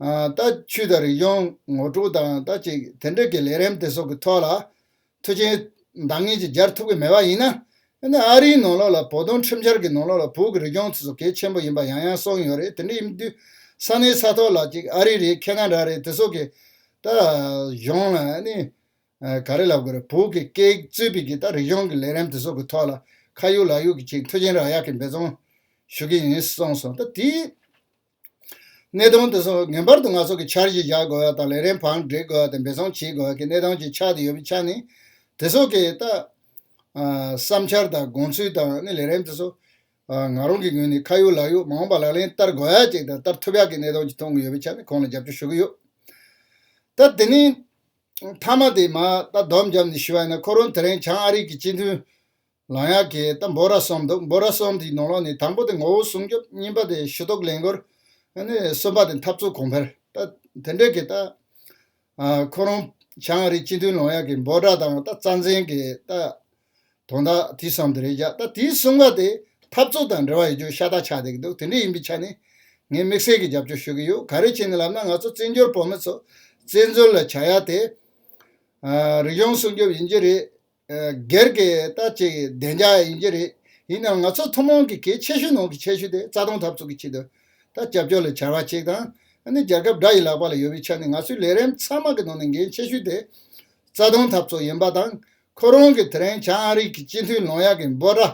ལྟ་ཆུས་དང་རིག་གཞུང་ངོ་དྲུག་དང་ལྟ་ཅིག་དེ་འབྲེལ་གྱི་ལས་རིམ་དེ་སོགས་ཀྱི་ཐོག་ལ་མཐུ་ཆེན་འདང་ངེས་ཀྱིས་སྦྱར་ཐུབ་ཀྱི་མེད་པ་ཡིན་ན། ཨ་རིའི་ནང་ལོགས་ལ་བོད་དོན་ཁྲིམས་འཆར་གྱི་ནང་ལོགས་ལ་བོད་ཀྱི་རིག་གཞུང་ཚོ་སོ་གལ་ཆེན་པོ་ཡིན་པ་ཡང་ཡང་གསུངས་ཡོད་རེད་དེ་འདྲ་ཡིན་དུས་ས་གནས་ས་ཐོག་ལ་ཅིག་ཨ་རི་རེད་ཁེ་ན་ར་རེད་དེ་སོགས་ཀྱི་ད་གཞུང་ལ་ནི་ག་རེ་ལབ་དགོས་རེད་བོད་ཀྱི་སྐད་རྩོད་པའི་གི་ད་རིག་གཞུང་གི་ལས་རིམ་དེ་སོགས་ཀྱི་ཐོག་ལ་ཁ་ཡུག་ལག་ཡུག་གིས་ཅིག་མཐུ་ཆེན་རག་ཡག་གི་འབད་བརྩོན་ཞུ་གི་ཡིན་གསུངས་སོང་ད་དེའི་གནས་སྟངས་དེ་ཚོ་ངེས་པར་དུ་ང་ཚོ་གི་འཆར་གཞི་བཞག་དགོས་བ་དང་ལས་རིམ་བང་སྒྲིག་དགོས་བ་དང་འབད་བརྩོན་བྱེད་དགོས་བ་གི་གནས་སྟངས་ཅིག་ཆགས་དུ་ཡོད་པའི་ཆ་ནས། དེ་ཚོ་གི་ལྟ། བསམ་འཆར་དང་དགོངས་ཚུལ་དང་ནི་ལས་རིམ་དེ་ཚོ། ང་རང་གི་ངོས་ནས་ཁ་ཡོད་ལག་ཡོད་མང་བ་ལག་ལེན་བསྟར་དགོས་བ་ཅིག་དང་བསྟར་ཐུབ་ཡག་གི་གནས་སྟངས་ཅིག་མཐོང་གི་ཡོད་པའི་ཆ་ནས་ཁོང་ལ་རྒྱབ་སྐྱོར་ཞུ་གི་ཡོད། ད་དེ་ནི། མཐའ་མ་དེ་མ་ད་སྡོམ་བརྒྱབ་ནས་ཞུ་བ་ཡིན་ན་ཁོ་རང་དེ་རིང་བྱང་ཨ་རིག་གི་སྤྱི་མཐུན། ལང་ཡག་གི་ད་འབོ་ར་སོང་འདུག་འབོ་ར་སོང་དེའི་ནང་ལོགས་ནས་དང་པོ་དེ་ངོ་བོ་སྲུང་སྐྱོབ་གཉིས་པ་དེ་ཞུ་གཏོགས་ལས་འགུལ་ནི་གསུམ་པ་དེ་འཐབ་རྩོད་གོང་འཕེལ་ད་དེ་འདྲས་ཀྱི་ད་ཁོ་རང་བྱང་རིའི་སྤྱི་འཐུས་ལང་ཡག་གི་འབོ་ར་དང་ད་རྩ་འཛིན་གི་ད་དོན་དག་དེའི་སང་དེ་རེད་བཞག་ད་དེའི་གསུམ་ཀ་དེ་འཐབ་རྩོད་དང་འབྲེལ་བ་ཡོད་རྒྱུ་ཤ་སྟག་ཆགས་བསྡད་ཀྱི་འདུག་དེ་འདྲས་ཡིན་པའི་ཆ་ནས་ངས་དམིགས་བསལ་གྱི་རྒྱབ་སྐྱོར་ཞུ་གི་ཡོད་ག་རེ་བྱས་ནས་ལབ་ན་ང་ཚོ་བཙན་བྱོལ་བོད་མི་ཚོ་བཙན་འཛུལ་ལ་བྱ་ཡག་དེ་རིག་གཞུང་སྲུང་སྐྱོབ་ཡིན་གྱི་རེད། སྒེར་གྱི་ལྟ་བྱེད་ཀྱི་བདེ་འཇགས་ཡིན་གྱི་རེད། ཡིན་ནའང་ང་ཚོ་ཐུན་མོང་གི་གལ་ཆེ་ཤོས་ནང་གི་ཆེ་ཤོས་དེ་རྩ་སྟོང་ཐབས་ཚུགས་ཀྱི་ཆེད་དུ་ད་རྒྱབ་སྐྱོར་ལས་བྱ་བ་གཅིག་དང། ནི་རྒྱལ་ཁབ་དགྲ་ཡི་ལག་པ་ལ་ཡོད་པའི་ཆ་ནས་ང་ཚོའི་ལས་རིམ་ཚང་མ་གི་ནང་ནས་འགན་ཆེ་ཤོས་དེ་རྩ་སྟོང་ཐབས་ཚུགས་ཡིན་པ་དང། ཁོ་རང་གི་དེ་རིང་བྱང་ཨ་རིག་གི་སྤྱི་འཐུས་ལོང་ཡ་གི་འབོད་སྒྲ་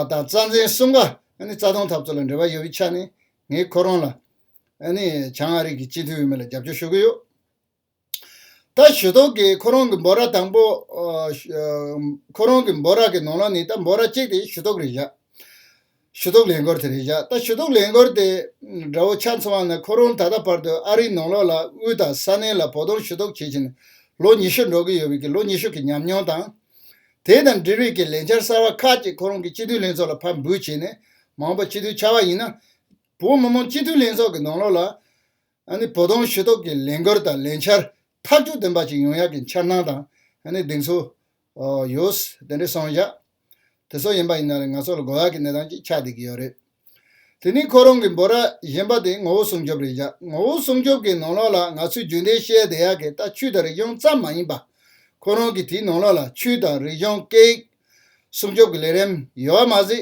དང་རྩ་འཛིན་གསུམ་ཀ་ནི་རྩ་སྟོང་ཐབས་ཚུགས་ལ་འབྲེལ་བ་ཡོད་པའི་ཆ་ནས་ངས་ཁོ་རང་ལ་ནི་བྱང་ཨ་རིག་གི་སྤྱི་འཐུས་འོས་མི་ལ་རྒྱབ་སྐྱོར་ཞུ་གི་ཡོད། ད་ཞུ་དོག་གིས་ཁོ་རང་གི་འབོ་ར་དང་པོ། ཁོ་རང་གི་འབོ་ར་གི་ནང་ལ་ནི་ད་འབོ་ར་གཅིག་དེ་ཞུ་དོག་རེ་བཞག། ཞུ་དོག་ལེན་སྒོར་དེ་རེ་བཞག་ད་ཞུ་དོག་ལེན་སྒོར་དེ། དགྲ་བོ་ཆ་མཚོ་བ་ན་ཁོ་རང་ད་ལྟ་བར་དུ་ཨ་རིའི་ནང་ལོགས་ལ་དབུས་དང་ས་གནས་ལ་བོ་དོང་ཞུ་དོག་བྱེད་བཞིན་ལོ་ཉི་ཤུ་འགྲོ་གི་ཡོད་བས་ཀྱི་ལོ་ཉི་ཤུ་གི་ཉམས་མྱོང་དང། དེ་དང་འབྲེལ་བའི་ཀྱི་ལས་འཆར་གསར་བ་ཁག་ཅིག་ཁོ་རང་གི་སྤྱི་འཐུས་ལྷན་ཚོགས་ལ་ཕབ་འབུལ་བྱས་ནས་མང་པོ་སྤྱི་འཐུས་ཆགས་བ་ཡིན་ན། བོད་མི་མང་སྤྱི་འཐུས་ལྷན་ཚོགས་ཀྱི་ནང་ལོགས་ལ། ཨ་ནི་བོ་དོང་ཞི་ཐོག་གི་ལས་འགུལ་དང་ལས་འཆར་ཐག་གཅོད་ལྡན་པ་ཅིག་ཡོང་ཡག་གི་འཆར་སྣང་དང་ཨ་ནི་གདེང་ཚོད། ཡོད། དེ་འདྲའི་སོང་བཞག་དེ་ཚོ་ཡིན་པ་ཡིན་ན་རེད་ང་ཚོ་ལ་དགོས་ཡག་གི་གནས་སྟངས་ཅིག་ཆགས་བསྡད་ཀྱི་ཡོད་རེད། དེ་ནི་ཁོ་རང་གི་འབོད་ར་གཞན་པ་དེ་ངོ་བོ་སྲུང་སྐྱོབ་རེད་བཞག་ངོ་བོ་སྲུང་སྐྱོབ་ཀྱི་ནང་ལོགས་ལ་ང་ཚོས་རྒྱུན་ལྡན་བཤད་བསྡད་ཡག་གི་ལྟ་ཆུས་དང་རིག་གཞུང་ཙམ་མ་ཡིན་པ། ཁོ་རང་གི་དེའི་ནང་ལོགས་ལ་ཆུས་དང་རིག་གཞུང་སྐད་ཡིག་སྲུང་སྐྱོབ་ཀྱི་ལས་རིམ་ཡོད་པ་མ་ཟད་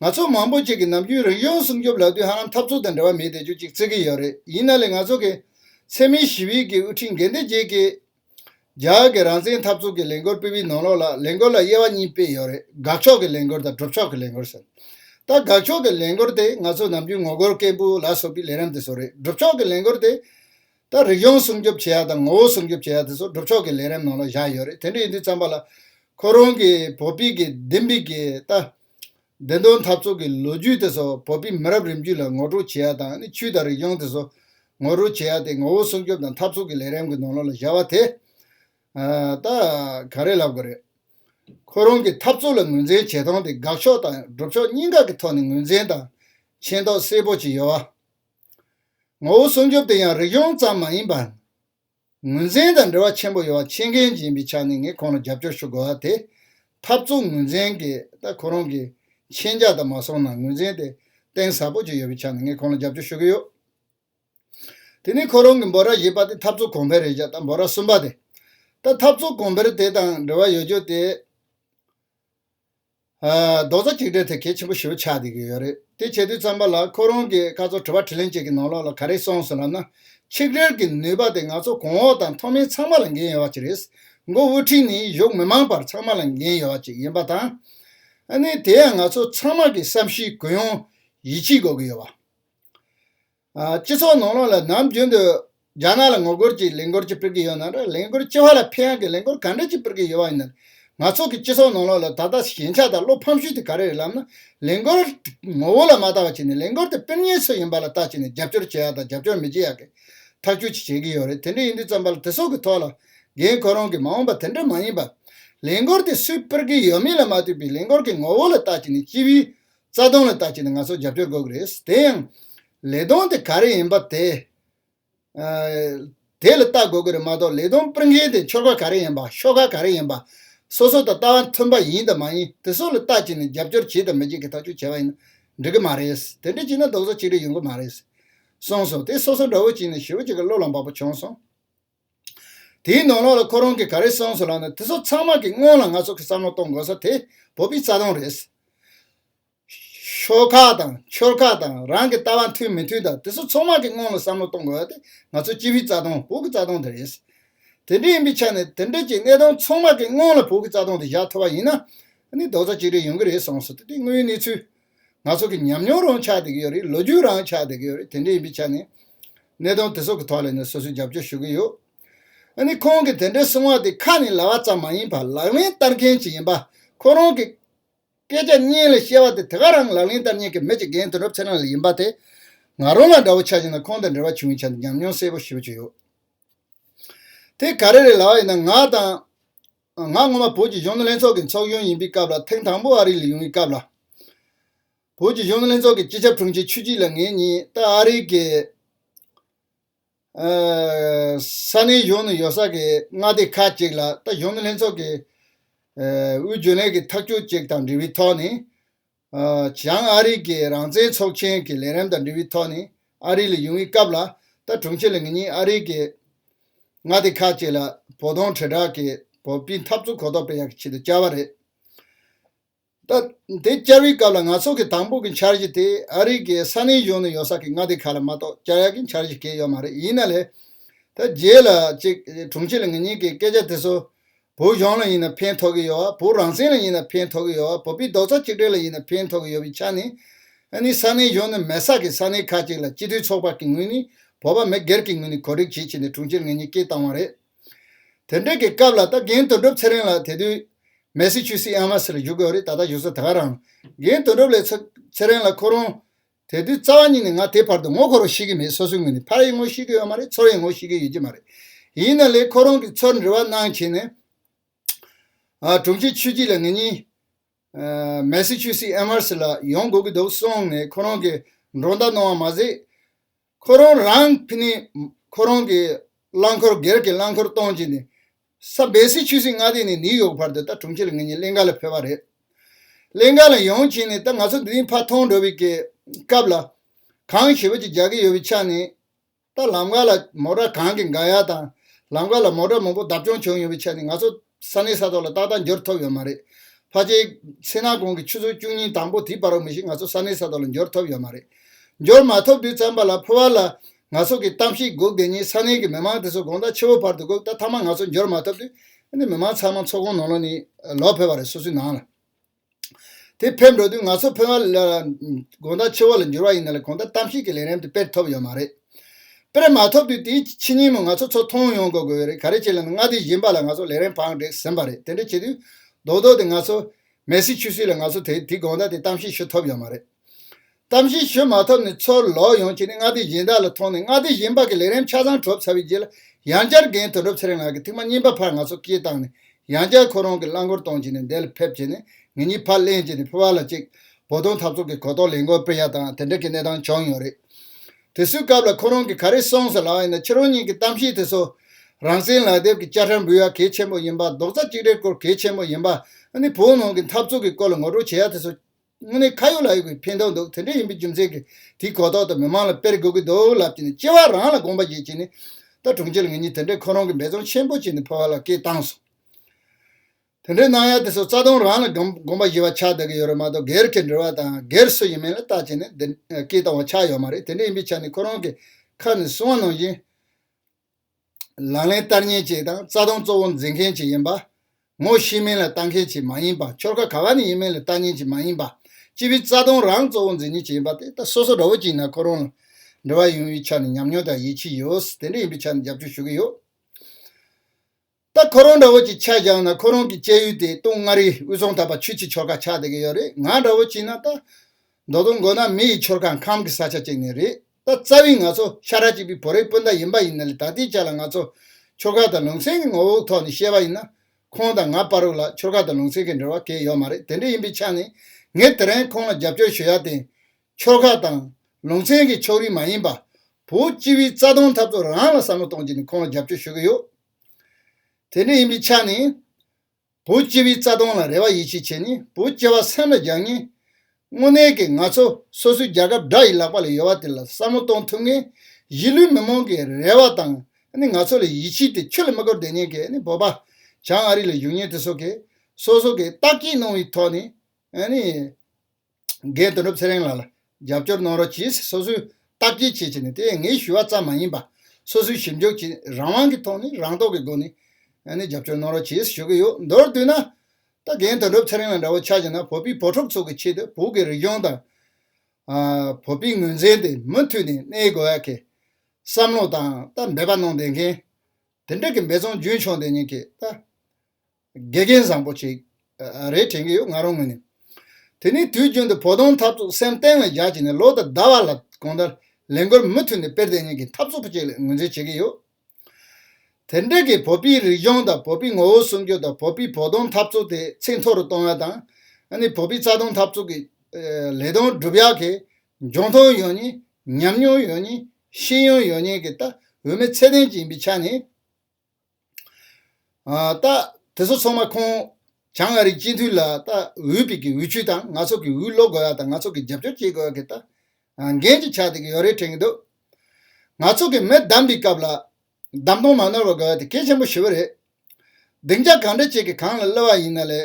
ང་ཚོ་མང་པོ་ཅིག་གིས་ནམ་རྒྱུན་རང་བྱུང་སྲུང་སྐྱོབ་ལག་དུས་ཧ་ལམ་འཐབ་རྩོད་དང་འབྲེལ་བ་མེད་བསྡད་རྒྱུ་ཅིག་བརྩི་གི་ཡོད་རེད་ཡིན་ན་ལས་ང་ཚོ་གི་འཚེ་མེད་ཞི་བའི་གི་དབུ་ཁྲིད་འགན་འདི་བརྗེད་ཀི། རྒྱ་གི་རང་བཙན་འཐབ་རྩོད་ཀི་ལས་འགོར་སྤེལ་བའི་ནང་ལོགས་ལ་ལས་འགོར་ལ་དབྱེ་བ་གཉིས་སྤེལ་ཡོད་རེད་དགག་ཕྱོགས་ཀི་ལས་འགོར་དང་སྒྲུབ་ཕྱོགས་ཀི་ལས་འགོར་ཟེར། ད་དགག་ཕྱོགས་ཀི་ལས་འགོར་དེ་ང་ཚོ་ནམ་རྒྱུན་ངོ་རྒོལ་སྐད་འབོད་ལ་སོགས་པའི་ལས་རིམ་དེ་ཚོ་རེད་སྒྲུབ་ཕྱོགས་ཀི་ལས་འགོར་དེ། ད་རིག་གཞུང་སྲུང་སྐྱོབ་བྱེད་ཡག་དང་ངོ་བོ་སྲུང་སྐྱོབ་བྱེད་ཡག་དེ་ཚོ་སྒྲུབ་ཕྱོགས་ཀྱི་ལས་རིམ་ནང་ལ་བཞག་ཡོད་རེད་དེ་འདྲ་ཡིན་དུས་བརྩམས་པ་ལ། ཁོ་རང་གིས་བོད་པིག་གི་བདེན་པིག་གི་ལྟ། བདེན་དོན་འཐབ་རྩོད་ཀྱི་ལོ་རྒྱུས་དེ་ཚོ་བོད་པིག་མི་རབས་རིམ་བརྒྱུད་ལ་ངོ་སྤྲོད་བྱེད་ཡག་དང་ནི་ཆོས་དང་རིག་གཞུང་དེ་ཚོ་ངོ་སྤྲོད་བྱེད་ཡག་དེ་ངོ་བོ་སྲུང་སྐྱོབ་དང་འཐབ་རྩོད་ཀྱི་ལས་རིམ་གྱི་ནང་ལོ་ལ་བཞག་པ་དེ། ད། ག་རེ་ལབ་དགོས་རེད། ཁོ་རང་གིས་འཐབ་རྩོད་ལ་ངོས་འཛིན་བྱེད་སྟངས་དེ་དགག་ཕྱོགས་དང་སྒྲུབ་ཕྱོགས་གཉིས་ཀ་གི་ཐོག་ནས་ངོས་འཛིན་དང་མཁྱེན་རྟོགས་གསལ་པོ་བྱས་ཡོད། ངོ་བོ་སྲུང་སྐྱོབ་དེ་ཡང་རིག་གཞུང་ཙམ་མ་ཡིན་པར། ངོས་འཛིན་དང་འབྲེལ་བ་ཆེན་པོ་ཡོད་པ་ཕྱི་འགན་འབྱིན་པའི་ཆ་ནས་ངས་ཁོང་ལ་རྒྱབ་སྐྱོར་ཞུ་དགོས་པ་དེ། འཐབ་རྩོད་ངོས་འཛིན་གྱིས་ད་ཁོ་རང་གི་མཁྱེན་རྒྱ་དང་མ་སོང་ན་ངོས་འཛིན་དེ་གཏིང་ཟབ་པོ་ཅིག་ཡོད་པའི་ཆ་ནས་ངས་ཁོང་ལ་རྒྱབ་སྐྱོར་ཞུ་གི་ཡོད། དེ་ནས་ཁོ་རང་གིས་འབོད་སྒྲ་བཞི་པ་དེ་འཐབ་རྩོད་གོང་འཕེལ་རེད་བྱས་ད་འབོད་སྒྲ་གསུམ་པ་དེ། ད་འཐབ་རྩོད་གོང་འཕེལ་དེ་དང་འབྲེལ་བ་ཡོད་རྒྱུ་དེ། རྡོག་རྩ་གཅིག་སྒྲིལ་ཐད་གལ་ཆེན་པོ་ཞིག་ཆགས་བསྡད་ཀྱི་ཡོད་རེད་དེ་བྱེད་དུས་བརྩམས་པ་ལ་ཁོ་རང་གིས་སྐར་ཚོགས་དྲི་བ་དྲི་ལན་བཅས་ཀྱི་ནང་ལོགས་ལ་ག་རེ་གསུངས་སོང་ལབ་ན། ཆིག་སྒྲིལ་གྱི་ནུས་པ་དེ་ང་ཚོ་གོང་འོག་དང་ཐོག་མའི་ཚང་མ་ལ་འགན་ཡོད་བ་ཅིག་རེད། མགོ་དབུས་ཁྲིད་ནས་བཞུགས་མི་མང་བར་ཚང་མ་ལ་འགན་ཡོད་བ་ཅིག་ཡིན་པ་དང། དེ་ཡང་ང་ཚོ་ཚང་མ་གི་བསམ་གཞིག་གུ་ཡངས་ཡིད་ཆེས་དགོས་ཀྱི་ཡོད་བ། སྤྱི་ཚོགས་ནང་ལོགས་ལ་ནམ་རྒྱུན་དུ་རྒྱ་ནག་ལ་ངོ་རྒོལ་གྱི་ལས་འགོར་གྱི་སྤེལ་གྱི་ཡོད་ན་འདྲ་ལས་འགོར་སྤྱི་བ་ལ་ཕན་ཡང་གི་ལས་འགོར་ག་འདྲ་གྱི་སྤེལ་གྱི་ཡོད་བ་ཡིན་ན་ང་ཚོགས་ཀྱི་སྤྱི་ཚོགས་ནང་ལོགས་ལ་ད་ལྟ་ཞན་ཆ་དང་བློ་ཕམ་ཤུལ་དེ་ག་རེ་རེད་ལབ་ན་ལས་འགོར་ངོ་བོ་ལ་མ་ལྟ་བ་བྱས་ནས་ལས་འགོར་དེ་སྤེལ་ཉེན་ཚོད་ཡིན་པ་ལ་ལྟ་བྱས་ནས་རྒྱབ་སྐྱོར་བྱེད་ཡག་དང་རྒྱབ་སྐྱོར་མི་བྱེད་ཡག་གི་ཐག་གཅོད་ཅིག་བྱེད་ཀྱི་ཡོད་རེད་དེ་འདྲ་ཡིན་དུས་བརྩམས་པ་ལ་དེ་སོགས་ཀྱི་ཐོག་ལ་འགན་ཁོ་རང་གི་མ་འོངས་པ་དེ་འདྲ་མ་ཡིན་པ། ལས་འགོར་དེ་སུས་སྤེལ་གྱི་ཡོད་མིན་ལ་མ་ལྟོས་པའི་ལས་འགོར་གྱི་ངོ་བོ་ལ་ལྟ་བྱས་ནས་སྤྱི་བའི་རྩ་དོན་ལ་བལྟ་བྱས་ནས་ང་ཚོར་རྒྱབ་སྐྱོར་དགོས་ཀྱི་རེད། དེ་ཡང། ལས་དོན་དེ་ག་རེ་ཡིན་པ་དེ། དེ་ལ་བལྟ་དགོས་ཀྱི་རེད་མ་གཏོགས་ལས་དོན་སྤེལ་མཁན་དེ་འཁྱོར་ཁ་ག་རེ་ཡིན་པ་ཤོག་ཁ་ག་རེ་ཡིན་པ། སོ་སོ་དང་ལྟ་བ་མཐུན་པ་ཡིན་དང་མ་ཡིན་དེ་སོགས་ལ་བལྟ་བྱས་ནས་རྒྱབ་སྐྱོར་བྱེད་དང་མི་བྱེད་ཀྱི་ཐག་གཅོད་བྱས་པ་ཡིན་ན་འགྲིག་གི་མ་རེད། དེ་འདྲ་བྱས་ན་རྡོག་རྩ་གཅིག་སྒྲིལ་ཡོང་གི་མ་རེད། གསུངས་སོང་དེ་སོ་སོ་འདྲ་བོ་བྱས་ནས་ཞི་བ་གཅིག་གི་བློ་ལ་འབབ་པོ་བྱུང་སོང། དེའི་ནོར་ལོག་ལ་ཁོ་རང་གིས་ག་རེ་གསུངས་སོང་ལབ་ན་དེ་ཚོ་ཚང་མ་གི་སྔོན་ལ་ང་ཚོ་གི་བསམ་བློ་གཏོང་དགོས་ས་དེ་བོད་པའི་རྩ་དོན་རེད། ཤོ་ཁག་དང་ཆོལ་ཁ་དང་རང་གི་ལྟ་བ་མཐུན་མི་མཐུན་དང་དེ་ཚོ་ཚང་མ་གི་སྔོན་ལ་བསམ་བློ་གཏོང་དགོས་ས་དེ་ང་ཚོ་སྤྱི་བའི་རྩ་དོན་བོད་ཀྱི་རྩ་དོན་དེ་རེད། དེ་འདྲ་ཡིན་པའི་ཆ་ནས་དེ་འདྲ་གྱི་གནད་དོན་ཚང་མ་གི་སྔོན་ལ་བོད་ཀྱི་རྩ་དོན་དེ་བཞག་ཐུབ་པ་ཡིན་ན་ནི་རྡོག་རྩ་གཅིག་སྒྲིལ་ཡོང་གི་རེད་གསུངས་སོང་དེ་འདྲའི་དངོས་ཡོད་གནས་ཚུལ་ང་ཚོ་གི་ཉམས་མྱོང་རང་ཆགས་བསྡད་ཀྱི་ཡོད་རེད་ལོ་རྒྱུས་རང་ཆགས་བསྡད་ཀྱི་ཡོད་རེད་དེ་འདྲ་ཡིན་པའི་ཆ་ནས། གནད་དོན་དེ་ཚོ་གི་ཐོག་ལ་ནས་སོ་སོས་རྒྱབ་སྐྱོར་ཞུ་གི་ཡོད། ཨ་ནི་ཁོང་གི་དེ་འདྲའི་གསུང་བ་དེ་ཁ་ནས་ལ་བ་ཙམ་མ་ཡིན་པར་ལག་ལེན་བསྟར་མཁན་ཞིག་ཡིན་པ་ཁོ་རང་གི། སྐད་ཆ་སྙན་ལ་བཤད་བ་དེ་དེ་ག་རང་ལག་ལེན་བསྟར་ཉན་གི་མེད་ཅེས་རྒན་དོན་གྲུབ་ཚེ་རིང་ལ་ཡིན་པ་དེ། ང་རང་ལ་འདྲ་བོ་ཆགས་ཤིང་དང་ཁོང་དང་འབྲེལ་བ་བྱུང་བའི་ཆ་ནས་ཉམས་མྱོང་གསལ་པོ་ཞིག་ཡོད། དེ་ག་རེ་རེད་ལ་བ་ཡིན་ན་ང་དང། ང་སྔོན་མ་བོད་ཀྱི་གཞོན་ནུ་ལྷན་ཚོགས་ཀྱི་ཚོགས་གཞོན་ཡིན་པའི་སྐབས་ལ་ཐེངས་དང་པོ་ཨ་རིར་ཡོང་བའི་སྐབས་ལ། བོད་ཀྱི་གཞོན་ནུ་ལྷན་ཚོགས་ཀྱི་སྤྱི་ཁྱབ་དྲུང་ཆེ་ཆུ་སྐྱིད་ལ་ངེད་གཉིས་ད་ཨ་རིའི་གི་ས་གནས་གཞོན་ནུ་ཡོད་ས་གི་མངའ་སྡེ་ཁག་ཅིག་ལ་ད་གཞོན་ནུ་ལྷན་ཚོགས་ཀྱི་དབུས་རྒྱུན་ལས་ཀྱི་ཐག་གཅོད་ཅིག་དང་འབྲེལ་བའི་ཐོག་ནས་བྱང་ཨ་རིག་གི་རང་བཙན་ཚོགས་ཆེན་གྱི་ལས་རིམ་དང་འབྲེལ་བའི་ཐོག་ནས་ཨ་རིག་ལ་ཡོང་བའི་སྐབས་ལ་ད་དྲུང་ཆེ་ལ་ངེད་གཉིས་ཨ་རིག་གི་མངའ་སྡེ་ཁག་ཅིག་ལ་བོགས་གཏོང་དྲིལ་བསྒྲགས་ཀྱི་བོགས་སྤྲིན་འཐབ་རྩོད་གོ་རྟོགས་སྤེལ་ཡག་གི་ཆེད་དུ་བཅར་བ་རེད། ད་དེ་བཅར་བའི་སྐབས་ལ་ང་ཚོ་གི་དང་པོ་གི་འཆར་གཞི་དེ་ཨ་རིག་གི་ས་གནས་གཞུང་ནས་ཡོད་ས་གི་མངའ་སྡེ་ཁག་ལ་མ་གཏོགས་བཅར་ཡག་གི་འཆར་གཞི་གལ་ཡོད་མ་རེད་ཡིན་ན་ལས་ད་རྗེས་ལ་ཅིག་དྲུང་ཆེ་ལ་ངེད་གཉིས་ཀྱི་སྐད་ཆ་དེ་ཚོ་བོད་གཞུང་ལ་ཡིན་ན་ཕན་ཐོགས་ཀྱི་ཡོད་བ། བོད་རང་བཙན་ལ་ཡིན་ན་ཕན་ཐོགས་ཀྱི་ཡོད་བ། བོད་པའི་རྡོག་རྩ་གཅིག་སྒྲིལ་ལ་ཡིན་ན་ཕན་ཐོགས་ཀྱི་ཡོད་པའི་ཆ་ནས། ཨ་ནི་ས་གནས་གཞུང་ནས་མེ་སག་གི་ས་གནས་ཁག་ཅིག་ལ་སྤྱི་འཐུས་ཚོགས་པ་གི་ངོས་ནས་བོད་པ་མི་སྒེར་གྱི་ངོས་ནས་གོ་སྒྲིག་བྱེད་ཆེད་དེ་དྲུང་ཆེར་ངེད་གཉིས་སྐད་བཏང་བ་རེད། དེ་འདྲ་གི་སྐབས་ལ་ད་རྒན་དོན་གྲུབ་ཚེ་རིང་ལགས་དེ་དུས། Massachusetts Amherst། ལ་བཞུགས་དགོས་རེད་ད་ལྟ་བཞུགས་ས་དེ་ག་རང། རྒན་དོན་གྲུབ་ལས་ཚེ་རིང་ལ་ཁོ་རང། དེ་དུས་རྩ་བ་ཉིད་ནས་ང་དེ་བར་དུ་ངོ་འཁོར་བ་ཤེས་ཀྱི་མེད་སོ་སོའི་ངོས་ནས་ཕར་ཡིན་ངོ་ཤེས་ཀྱི་ཡོད་མ་རེད་ཚུར་ཡིན་ངོ་ཤེས་ཀྱི་ཡོད་ཀྱི་མ་རེད། ཡིན་ན་ལེ་ཁོ་རང་གིས་ཚུར་འབྲེལ་བ་གནང་བྱས་ནས། དྲུང་ཆེ་ཆོས་སྐྱིད་ལ་ངེད་གཉིས། Massachusetts Amherst། ལ་ཡོང་དགོས་ཀྱི་འདུག་གསུངས་ནས་ཁོ་རང་གིས་མགྲོན་བརྡ་གནང་བ་མ་ཟད། ཁོ་རང་རང་ཕི་ནི་ཁོ་རང་གི་རླངས་འཁོར་སྒེར་གྱི་རླངས་འཁོར་གཏོང་བགྱིས་ནས་ས་སྦེ་སི་ཆུས་སི་མངའ་སྡེ་ནས་ནིའུ་ཡོག་བར་དུ་ད་དྲུང་ཕྱི་ལོ་ངེད་གཉིས་གླིང་ག་ལ་ཕེབས་པ་རེད། གླིང་ག་ལ་ཡོང་བྱས་ནས་ད་ང་ཚོ་འདི་རིང་ཕར་མཐོང་འགྲོ་བའི་གི་སྐབས་ལ་གང་ཞེ་བོ་ཅིག་རྒྱག་གི་ཡོད་པའི་ཆ་ནས་ད་ལམ་ག་ལ་མོ་བྲ་གང་གི་འགའ་ཡ་དང་ལམ་ག་ལ་མོ་བྲ་མང་པོ་བརྡབ་བྱུང་བྱུང་ཡོད་པའི་ཆ་ནས་ང་ཚོ་ས་གནས་ས་ཐོག་ལ་ཏག་ཏག་འབྱོར་ཐུབ་ཡོད་མ་རེད། ཕ་ཆེ། ཚེ་ནག་གོང་གི་ཆུ་ཚོད་བཅུ་གཉིས་དང་པོ་དེའི་བར་མི་ཞིག་ང་ཚོ་ས་གནས་ས་ཐོག་ལ་འབྱོར་ཐུབ་ཡོད་མ་རེད། འབྱོར་མ་ཐུབ་དུས་ཙམ་པ་ལ་ཕུ་བ་ལ། ང་ཚོ་གི་གཏམ་ཞིག་སྒུག་དེ་ཉིན་ས་གནས་ཀྱི་མི་མང་དེ་ཚོ་དགོང་ཟླ་ཕྱི་བོ་བར་དུ་སྒུག་ད་ཐ་མ་ང་ཚོ་འབྱོར་མ་ཐུབ་དུས། མི་མང་ཚང་མ་ཚོགས་ཁང་ནང་ལོག་ནས་ལོག་ཕེབས་པ་རེད་སོ་སོའི་ནང་ལ། དེ་ཕེབས་འགྲོ་དུས་ང་ཚོ་ཕོ་བ་ལ་དགོངས་དག་ཆེ་བ་ལ་འགྱུར་བ་ཡིན་ན་ལ་གོང་ད་གཏམ་ཤིག་གི་ལན་རེམ་དེ་དཔེར་ཐོབ་ཡོད་མ་རེད། དཔེར་མ་ཐོབ་དུས་དེའི་ཕྱི་ཉིན་མོ་ང་ཚོ་ཚོ་མཐོང་ཡོང་དགོས་དགོས་ཡོད་རེད་ག་རེ་བྱས་ལ་ན་མངའ་སྡེ་གཞན་པ་ལ་ང་ཚོ་ལན་རེམ་བང་བསྒྲིགས་ཟིན་པ་རེད་དེ་འདྲ་བྱས་དུས་རྡོག་རྡོག་དེ་ང་ཚོ། མེ་སི་ཆུ་སི་ལ་ང་ཚོ་དེ་དེའི་དགོངས་དག་དེ་གཏམ་ཤིག་ཤོད་ཐོབ་ཡོད་མ་རེད། གཏམ་བཤད་ཞུ་མ་ཐུབ་ནས་ཚུར་ལོག་ཡོང་ཁྱེད་ནི་མངའ་སྡེ་གཞན་དག་ལ་མཐོང་ནས་མངའ་སྡེ་གཞན་པ་གི་ལས་རིམ་ཆ་ཚང་གྲུབ་ཚར་བའི་རྗེས་ལ་ཡང་བསྐྱར་རྒན་དོན་གྲུབ་ཚེ་རིང་ལགས་ཀྱི་ཐིག་མ་རྙིང་པ་ཕར་ང་ཚོར་སྐྱེལ་བཏང་ནས་ཡང་བསྐྱར་ཁོ་རང་གི་རླངས་འཁོར་གཏོང་བྱས་ནས་འདས་ལ་ཕེབས་བྱས་ནས་ངེད་གཉིས་ཕར་གླེང་བྱས་ནས་ཕེབས་བ་ལ་གཅིག་བོ་དོང་འཐབ་ཚོགས་ཀྱི་གོ་རྟོགས་ལས་མགོ་སྤེལ་ཡ་དང་དེ་འདྲ་གི་གནས་སྟངས་བྱུང་ཡོད་རེད། དེ་སུའི་སྐབས་ལ་ཁོ་རང་གིས་ག་རེ་གསུངས་སོང་ལགས་ཡིན་ན་ཁྱེད་རང་གཉིས་ཀྱི་གཏམ་བཤད་དེ་ཚོ་རང་བཙན་ལག་དེབ་ཀྱི་དཔྱ་ཁྲལ་འབུལ་ཡ་གལ་ཆེན་པོ་ཡིན་པ་རྡོག་རྩ་གཅིག་སྒྲིལ་སྐོར་གལ་ཆེན་པོ་ཡིན་པ་ནི་བོད་ནང་གི་འཐབ་རྩོད་ཀྱི་སྐོར་ལ་ངོ་སྤྲོད་བྱེད་ཡ་དེ་ཚོ། དངོས་གནས་ཁ་ཡོད་ལག་ཡོད་ཀྱི་ཕན་ཐོགས་འདུག་དེ་འདྲ་ཡིན་པའི་རྒྱུ་མཚན་གྱིས་དེའི་གོ་རྟོགས་དང་མི་མང་ལ་སྤེལ་དགོས་ཀྱི་འདུག་ལབ་ཀྱི་ནས་སྐྱེ་བ་རང་ལ་དགོངས་པ་བཞེས་ཀྱི་ནས་ད་གྲོང་ཁྱེར་ངེད་གཉིས་དེ་འདྲའི་ཁོ་རང་གི་འབད་བརྩོན་ཆེན་པོ་བྱས་ནས་ཕོ་བ་ལ་སྐད་བཏང་སོང། དེ་འདྲའི་གནང་ཡ་དེ་ཚོ་རྩ་དོན་རང་ལ་དགོངས་པ་བཞེས་པ་ཆགས་བསྡད་ཀྱི་ཡོད་རེད་མ་གཏོགས་སྒེར་གྱི་འབྲེལ་བ་དང་སྒེར་སུ་ཡིན་མིན་ལ་ལྟ་བྱས་ནས་སྐད་བཏང་བ་ཆགས་ཡོད་མ་རེད་དེ་འདྲ་ཡིན་པའི་ཆ་ནས་ཁོ་རང་གི་ཁ་ནས་གསུང་བ་ནང་བཞིན། ལག་ལེན་བསྟར་ཉེན་ཆེ་དང་རྩ་དོན་གཙོ་བོ་འཛིན་མཁན་ཞིག་ཡིན་པ། ངོ་ཤེས་མིན་ལ་ལྟ་མཁན་ཞིག་མ་ཡིན་པ་ཁྱོར་ཁ་ག་བ་ནས་ཡིན་མིན་ལ་ལྟ་ཉེན་ཞིག་མ་ཡིན་པ། སྤྱི་པའི་རྩ་དོན་རང་གཙོ་བོ་འཛིན་ཉེན་ཞིག་ཡིན་པ་དེ་ད་སོ་སོ་འདྲ་བོ་ཅིག་ན་ཁོ་རང་ལ་འབྲེལ་བ་ཡོང་བའི་ཆ་ནས་ཉམས་མྱོང་དང་ཡིད་ཆེས་ཡོད་དེ་འདྲ་ཡིན་པའི་ཆ་ནས་རྒྱབ་སྐྱོར་ཞུ་གི་ཡོད། ད་ཁོ་རང་འདྲ་བོ་ཅིག་ཆ་བཞག་ན་ཁོ་རང་གི་སྐྱེས་ཡུལ་དེ་སྟོང་མངའ་རིས་དབུས་གཙང་དག་པ་ཆུ་ཆེ་ཆོལ་ཁ་ཆགས་བསྡད་ཀྱི་ཡོད་རེད་ང་འདྲ་བོ་ཅིག་ན་ད། མདོ་དོང་མགོ་ན་མི་ཡི་ཆོལ་ཁ་ཁམས་ཀྱི་ས་ཆ་ཅིག་ནས་རེད་ད་རྩ་བའི་ང་ཚོ་ཤ་ཁྲག་གཅིག་པའི་བོད་རིགས་སྤུན་ཟླ་ཡིན་པ་ཡིན་ན་ལས་ད་ལྟའི་ཆ་ལ་ང་ཚོ་ཆོལ་ཁ་དང་ལུང་ཚན་གྱི་ངོ་བོའི་ཐོག་ནས་བཤད་པ་ཡིན་ན་ཁོང་དང་ང་པར་རུ་ལ་ཆོལ་ཁ་དང་ལུང་ཚན་གྱི་འབྲེལ་བ་གས་ཡོད་མ་རེད་དེ་འདྲ་ཡིན་པའི་ཆ་ནས་ངས་དེ་རིང་ཁོང་ལ་རྒྱབ་སྐྱོར་ཞུ་ཡ་དེ་ཆོལ་ཁ་དང། ལུང་ཚན་གྱི་ཕྱོགས་རིས་མ་ཡིན་པ། བོད་སྤྱི་བའི་རྩ་དོན་འཐབ་རྩོད་རང་ལ་བསམ་བློ་གཏོང་ཆེད་ནས་ཁོང་ལ་རྒྱབ་སྐྱོར་ཞུ་གི་ཡོད། དེ་ནས་ཡིན་པའི་ཆ་ནས། བུ་སྐྱེས་པའི་རྩ་སྟོང་ལ་རེ་བ་ཡིད་ཆེས་བྱས་ནས་བུ་སྐྱེ་བ་སེམས་ལ་སྦྱར་ངེས། དངོས་གནས་ཀྱི་ང་ཚོ་སོ་སོའི་རྒྱལ་ཁབ་དགྲ་ཡི་ལག་པ་ལ་ཡོད་བ་དེ་ལ་བསམ་བློ་གཏོང་ཐུབ་ངེས། གཞིས་ལུས་མི་མང་གི་རེ་བ་དང་ང་ཚོ་ལ་ཡིད་ཆེས་དེ་ཁྱོད་ལ་མི་དགོས་བདེན་གཉེར་གྱི་བོད་པ་བྱང་ཨ་རི་ལ་བཞུགས་ཉེན་དེ་སོགས་ཀྱི་སོ་སོ་གི་རྟགས་ཀྱིས་གནང་བའི་ཐོག་ནས། འགས་དོན་གྲུབ་ཚེ་རིང་ལགས་ལ་རྒྱབ་སྐྱོར་གནང་རོགས་གྱིས་སོ་སོའི་སྟབས་ཀྱིས་བྱེད་ཅེས་ནས་དེ་ངས་ཞུ་བ་ཙམ་མ་ཡིན་པ་སོ་སོའི་ཞིབ་འཇུག་གྱིས་རང་དབང་གི་ཐོག་ནས་རང་རྟོགས་ཀྱི་སྒོ་ནས་ནས་རྒྱབ་སྐྱོར་གནང་རོགས་གྱིས་ཞུ་གི་ཡོད་མདོར་བསྡུས་ན། ད་རྒན་དོན་གྲུབ་ཚེ་རིང་ལགས་འདྲ་བོ་ཆགས་ཀྱི་ན་བོད་པའི་བོད་ཕྲུག་ཚོ་གི་ཆེད་དུ་བོད་ཀྱི་རིག་གཞུང་དང། བོད་པའི་ངོས་འཛིན་དེ་མུ་མཐུད་ནས་གནས་དགོས་ཡ་གི་བསམ་བློ་དང་ད་འབད་པ་གནང་བསྡད་མཁན་དེ་འདྲ་གི་འབད་བརྩོན་རྒྱུན་འཁྱོངས་དེ་ཉིད་ཀྱིས་ད། དགེ་རྒན་བཟང་པོ་ཞིག་རེད་དྲན་གྱི་ཡོད་ང་རང་ངོས་ནས། དེ་ནས་དུས་རྒྱུན་དུ་བོ་དོང་འཐབ་རྩོད་སེམས་གཏིང་ལ་བཞག་ཅིག་ནས་ལོ་དང་ཟླ་བ་ལ་གང་ལྟར་ལས་འགུལ་མུ་མཐུད་ནས་སྤེལ་དེ་ཉིད་ཀྱི་འཐབ་རྩོད་ཅིག་ལ་ངོས་འཛིན་བྱེད་ཀྱི་ཡོད། དེ་འབྲེལ་གྱི་བོད་པའི་རིག་གཞུང་དང་བོད་པའི་ངོ་བོ་སྲུང་སྐྱོབ་དང་བོད་པའི་བོ་དོང་འཐབ་རྩོད་དེ་ཚད་མཐོ་རུ་གཏོང་བ་དང། བོད་པའི་རྩ་དོན་འཐབ་རྩོད་ཀྱི་ལས་དོན་སྒྲུབ་ཡག་གི་འབྱུང་ཁུངས་ཡོད་ཉིད་ཉམས་མྱོང་ཡོད་ཉིད་ཤེས་ཡོན་ཡོད་ཉིད་ཀྱི་ལྟ་འོས་མི་ཚད་ལྡན་ཅིག་ཡིན་པའི་ཆ་ནས། དེ་ཚོ་ཚང་མ་ཁོང་བྱང་ཨ་རིའི་སྤྱི་འཐུས་ལ་འོས་པིག་གི་འོས་ཆུས་དང་ནག་ཚོགས་ཀྱི་འོས་བློ་དགོས་ཡ་དང་ནག་ཚོགས་ཀྱི་རྒྱབ་སྐྱོར་བྱེད་དགོས་ཡ་གི་ད་འགན་ཅིག་ཆགས་འདུག་གི་ཡོད་རེད་དྲན་གི་འདུག་ནག་ཚོགས་ཀྱི་མི་བདམས་པའི་སྐབས་ལ་བདམས་ཐོང་མ་ནོར་བ་དགོས་ཡ་དེ་གལ་ཆེན་པོ་ཞི་བོ་རེད་སྡིངས་ཆ་གང་འདྲ་བྱེད་གི་གང་ལ་གློ་བ་ཡིན་ན་ལས་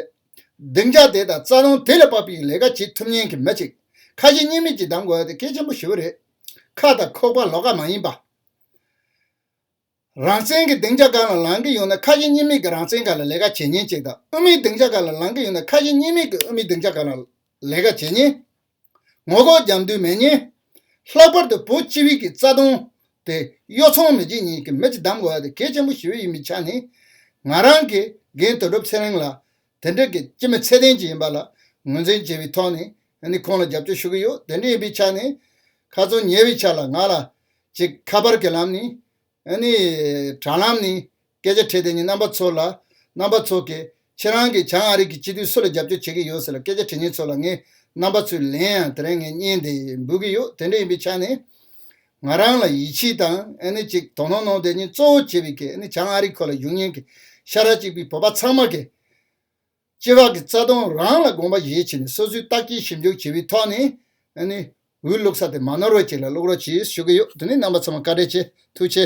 སྡིངས་ཆ་དེ་དང་རྩ་དོན་དེ་ལ་དཔག་པའི་ལས་ཀ་བྱེད་ཐུབ་ཉེན་གི་མི་ཅིག་ཁ་ཞེ་གཉིས་མེད་ཀྱི་བདམས་དགོས་ཡ་དེ་གལ་ཆེན་པོ་ཞི་བོ་རེད་ཁ་དང་ཁོག་པ་ལོག་ཀ་མ་ཡིན་པ། རང་བཙན་གྱི་སྡིངས་ཆ་གང་ལ་ལངས་ཀྱི་ཡོད་ན་ཁ་ཞེ་གཉིས་མེད་ཀྱི་རང་བཙན་ག་ལ་ལས་ཀ་བྱེད་ཉེན་ཅིག་དང་དབུ་མའི་སྡིངས་ཆ་ག་ལ་ལངས་ཀྱི་ཡོད་ན་ཁ་ཞེ་གཉིས་མེད་ཀྱི་དབུ་མའི་སྡིངས་ཆ་ག་ལ་ལས་ཀ་བྱེད་ཉེན། ངོ་ལྐོག་རྒྱབ་མདུན་མེད་ཉེན། ལྷག་པར་དུ་བོད་སྤྱི་བིག་གི་རྩ་དོན་དེ་གཡོ་འཚོང་མི་བྱེད་ཉེན་གྱི་མེ་ལྕེ་བསྡམ་དགོས་པ་དེ་གལ་ཆེན་པོ་ཞིག་འོས་ཡིན་མི་ཆ་ནས་ང་རང་གིས་རྒན་དོན་གྲུབ་ཚེ་རིང་ལ་དེ་འདྲ་གི་སྤྱི་མི་ཚད་ལྡན་ཅིག་ཡིན་པ་ལ་ངོས་འཛིན་བྱས་པའི་ཐོག་ནས་ནི་ཁོང་ལ་རྒྱབ་སྐྱོར་ཞུ་གི་ཡོད་དེ་འདྲ་ཡིན་པའི་ཆ་ནས་ཁ་ཚོན་ཉེ་བའི་ཆ་ལ་ང་ལ་ཅིག་ཁ་པར་གྱི་ལམ་ནས་ནི་དྲ་ལམ་ནས་སྐད་ཆ་འཕྲད་དེ་ནི་རྣམ་པ་ཚོ་ལ་རྣམ་པ་ཚོ་གིས་ཁྱེད་རང་གིས་བྱང་ཨ་རིག་གི་སྤྱི་འཐུས་སུ་ལ་རྒྱབ་སྐྱོར་བྱེད་ཀྱི་ཡོད་ཟེར་ལ་སྐད་ཆ་དྲི་ངན་ཚོ་ལ་ངས་རྣམ་པ་ཚོའི་ལན་ཡང་དེ་རིང་ངས་རྙེད་འདི་འབུལ་གི་ཡོད་དེ་འདྲ་ཡིན་པའི་ཆ་ནས་ང་རང་ལ་ཡིད་ཆེས་དང་ཅིག་དོ་ནོར་གནང་དེ་ཉིད་གཙོ་བོ་བྱས་པའི་བྱང་ཨ་རི་ཁོ་ལ་བཞུགས་ཉེན་གྱི་ཤ་ར་གཅིག་པའི་བོད་པ་ཚང་མ་གིས། སྐྱེ་བ་གི་རྩ་ལྟུང་རང་ལ་དགོངས་པ་བཞེས་བྱས་ནས་སོ་སོའི་བརྟག་དཔྱད་ཞིབ་འཇུག་བྱས་པའི་ཐོག་ནས་འོས་བླུགས་ས་དེ་མ་ནོར་བ་ཅིག་ལ་བླུགས་རོགས་གྱིས་ཞུ་གི་ཡོད་དེ་ནི་རྣམ་པ་ཚང་མ་བཀའ་དྲིན་ཆེ་ཐུགས་ཆེ།